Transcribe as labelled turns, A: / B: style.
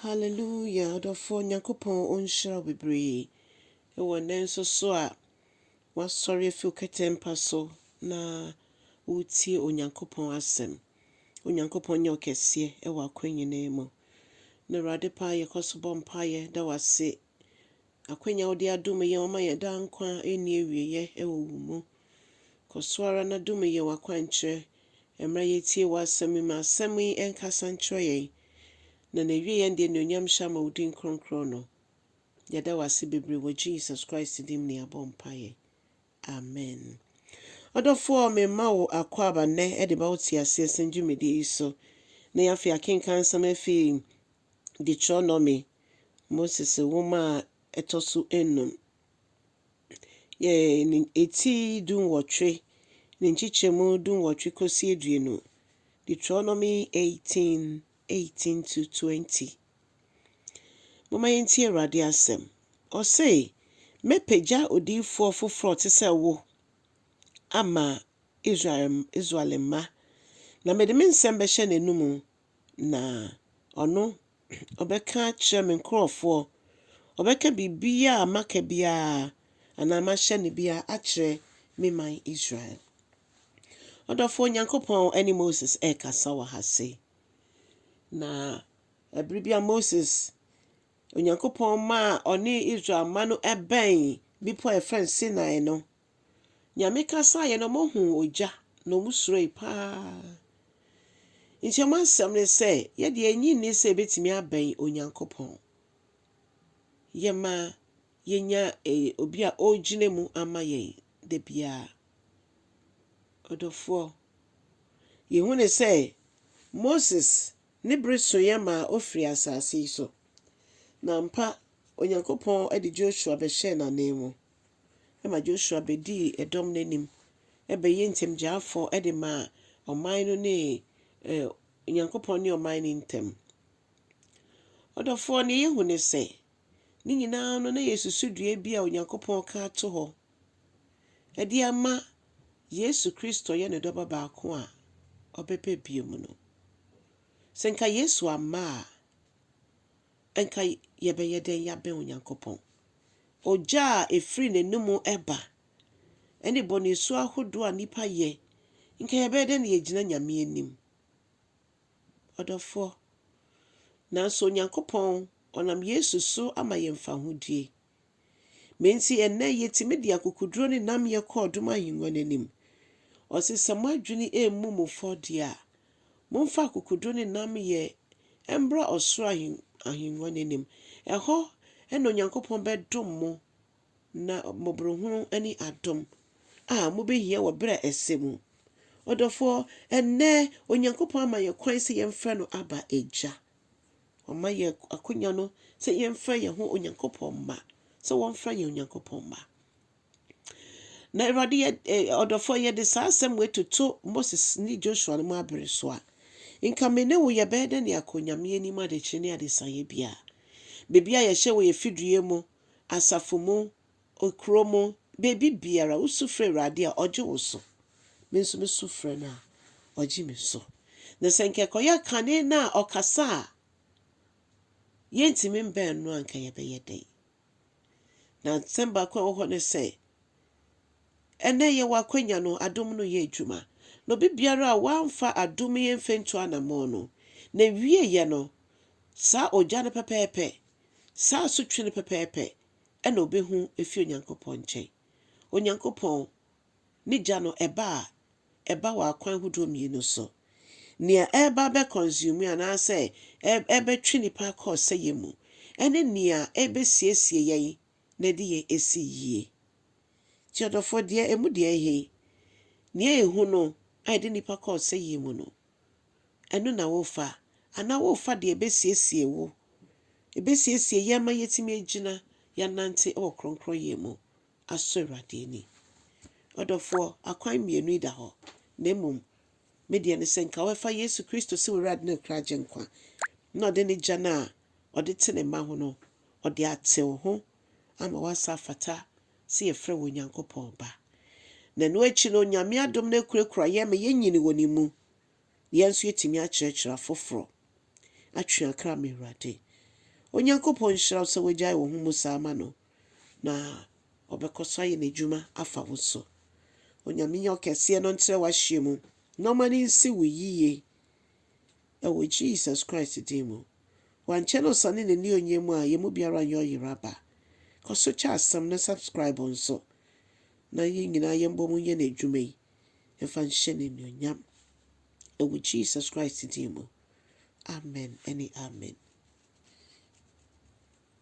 A: Hallelujah ɔdɔfoɔ Nyankopɔn ɔnhyira wo bebree wɔ nnɛ nso so a w'asɔre afi wo kɛtɛmpa so na woretie Onyankopɔn asɛm. Onyankopɔn nyɛ ɔkɛseɛ wɔ akwan nyinaa mu. Na Awurade paa yɛkɔ so bɔ mpaeɛ da w'ase Akwanya a wode adom yɛn wama yɛn daa nkwa a ɛnni awieɛ wɔ wo mu. Kɔ so ara na dom yɛn w'akwankyerɛ mmerɛ yɛtie w'asɛm yi. Ma asɛm yi nkasa nkyerɛ yɛn na n'awieɛ no de anuonyam hyɛ ama wo din kronkron no. Yɛda wo ase bebree wɔ Jesus Christ din mu na yɛabɔ mpaeɛ. Amen. Ɔdɔfoɔ, mema wo akwaaba nnɛ de ba wo teaseɛ sɛm dwumadie yi so. Na yɛn afei akenkan nsɛm afi Deuteronomy, Moses Nwoma a Ɛtɔ So Anum, yɛ ne eti dunwɔtwe, ne nkyekyɛmu dunwɔtwe kosi aduonu, Deuteronomy eighteen, eighteen to twenty. Momma yɛntie Awurade asɛm. Ɔse, Mɛpagya odiyifoɔ foforɔ te sɛ wo ama Israel, Israel mma, na mede me nsɛm bɛhyɛ n'anomu, Na ɔno ɔbɛka akyerɛ me nkurɔfoɔ, ɔbɛka biribiara a maka biara anaa mahyɛ no biara akyerɛ me man Israel. Ɔdɔfoɔ Nyankopɔn ne Moses rekasa wɔ ha sei. Na ɛberɛ bi a Moses, Onyankopɔn maa ɔne Israel mma no bɛn bepɔ a yɛfrɛ no Sinai no, Nyame kasaeɛ no ɔmo huu ogya na ɔmo suroe paa. Nti ɔmo asɛm ne sɛ, yɛdeɛ enye nni sɛ yɛbɛtumi abɛn Onyankopɔn. Yɛma yɛnya obi a ɔregyina mu ama yɛn da biara. Ɔdɔfoɔ, yɛhu ne sɛ Moses ne bere soeɛ maa ɔfirii asase yi so. Na ampa Onyankopɔn de Joshua bɛhyɛɛ n'ananmu. ma Joshua bɛdii ɛdɔm no anim bɛyɛɛ ntamgyaafoɔ de maa ɔman no ne Onyankopɔn ne ɔman no ntam. Ɔdɔfoɔ ne yɛhu ne sɛ, ne nyinaa no na yɛsusu dua bi a Onyankopɔn ka ato hɔ de ama Yesu Kristo yɛ ne dɔba baako a ɔbɛba bio mu no. Sɛ nka Yesu amma a, anka yɛbɛyɛ dɛn yɛabɛn Onyankopɔn? Ogya a ɛfiri n'anom ba ne bɔne su ahodoɔ a nnipa yɛ, anka yɛbɛyɛ dɛn na yɛagyina Nyame anim? Ɔdɔfoɔ, nanso Onyankopɔn ɔnam Yesu so ama yɛn fahodie. Ma enti ɛnnɛ yɛtumi de akokoduro ne nnamyɛ kɔ ɔdom ahennwa no anim. Ɔse sɛ moadwene ɛmmu mo fɔ deɛ a, momfa akokoduro ne nnamyɛ mbra ɔsoro ahennwa no anim. Ɛhɔ na Onyankopɔn bɛdom mo na mmɔborohunu ne adom a mobɛhia wɔ berɛ a ɛsɛ mu. Ɔdɔfoɔ, ɛnnɛ Onyankopɔn ama yɛn kwan sɛ yɛmfrɛ no Abba, Agya. Wama yɛn akonya no sɛ yɛmfrɛ yɛn ho Onyankopɔn mma, sɛ wɔmfrɛ yɛn Onyankopɔn mma. Na Awurade yɛ eh, ɔdɔfoɔ yɛde saa asɛm wei toto Moses ne Joshua no mu abere so a, nka me ne wo yɛbɛyɛ dɛ ne akɔ Nyame anim adekyerɛ ne adesaeɛ biara. Baabi a yɛhyɛ wɔ yɛn fidue mu, asafo mu, Okuro mu, baabi biara, wo su frɛ Awurade a, ɔgye wo so. Me nso me su frɛ no a, ɔgye me so. Na sɛ nka ɛkɔyɛ kane no a ɔkasa a yɛntumi mbɛn no a, nka yɛbɛyɛ dɛn? Na nsɛm baako a ɛwɔ hɔ ne sɛ, ɛnɛ yɛwɔ akwanya no, adom no yɛ adwuma. Na obi biara a wamfa adom yi mfa ntu anammɔn no, n'awieeɛ no, saa ogya no pɛpɛɛpɛ, saa asotwe no pɛpɛɛpɛ na obehu afi Onyankopɔn nkyɛn. Onyankopɔn, ne gya no, ɛba a, ɛba wɔ akwan hodoɔ mmienu so. Nea ɛreba abɛ consume anaasɛ ɛrebɛtwe nipa akɔ ɔsɛeɛ mu, ɛne nea ɛrebɛsiesie yɛn na ɛde yɛn asi yie. Nti ɔdɔfoɔ, deɛ ɛmu deɛ ɛhe? Nea ɛhu no a ɛde nipa kɔ ɔsɛeɛ mu no. ɛno na worefa, anaa worefa deɛ ɛbɛsiesie wo, ɛbɛsiesie yɛn ma yɛatumi agyina, yɛanante wɔ kronkronyɛ mu asɔ Awurade ani. Ɔdɔfoɔ, akwan mmienu yi da hɔ, na mmom me deɛ ne sɛ nka wobɛfa Yesu Kristo sɛ w'Awurade ne kra gye nkwa, na ɔde ne gya no a ɔde te ne mma ho no, ɔde ate wo ho ama woasa afata sɛ yɛfrɛ wo Onyankopɔn Ba. Na ɛno akyi no, Nyame adom no akurakura yɛn ma yɛnyini wɔ Ne mu, na yɛn nso yɛtumi akyerɛkyerɛ afoforɔ. Atweakra me Awurade. Onyankopɔn nhyira wo sɛ wagyae wo ho mu saa ma no, na ɔbɛkɔ so ayɛ N'adwuma afa wo so. Onyame Ɔkɛseɛ no ntrɛ w'ahyeɛ mu, na ɔma no nsi wo yie. wɔ Jesus Christ din mu. Wankyɛ na ɔsane n'ani ɔnyɛ mu a yɛn mu biara nyɛ ɔyera ba. Kɔ so kyɛ asɛm no subscribe nso na yɛn nyinaa yɛn bɔ mu nyɛ n'adwuma yi mfa nhyɛ n'anuonyam wɔ Jesus Christ din mu. Amen ɛne amen.